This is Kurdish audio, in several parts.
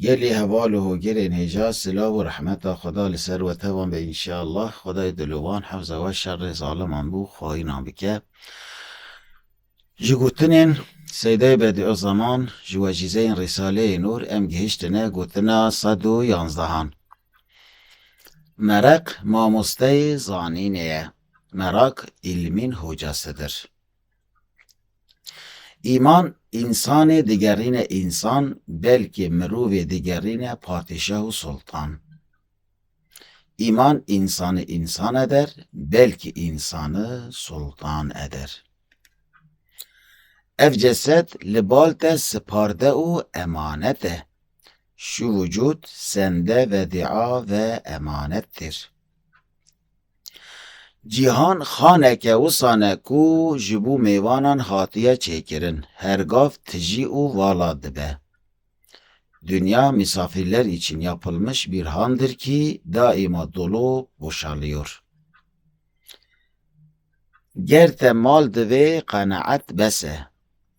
Gelê heval û hogirên hêja silav û rehmeta Xweda li ser we tevan be înşeallah. Xwedayê dilovan hefza we şerê zaliman bû xaînan bike. Ji gotinên Seydayê Bediözaman ji wecîzeyên Rîsaleyê Nûr em gihiştine gotina sed û yanzdehan. Mereq mamosteyê zanînê ye. Merak îlmîn hoca Sidir. Îman însanê digerîne însan, belkî mirovê digerîne padîşah û sultan. Îman însanê însan eder, belkî însani sultan eder. Ev cesed li bal te siparde û emanet e. Şu vücud sende vedîa ve emanet dir. Cîhan xaneke wisan e ku ji bo mêvanan hatiye çêkirin, her gav tijî û vala dibe. Dinya misafîrler îçin yapılmış bir handır ki daima dolu boşalıyor. Ger te mal divê qenaet bes e.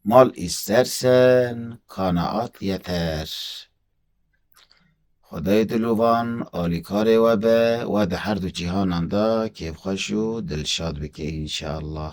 Mal îstersen kanaat yeter. Xwedayê dilovan alîkarê we be, we di her du cîhanan de kêfxweş û dilşad bike înşeallah.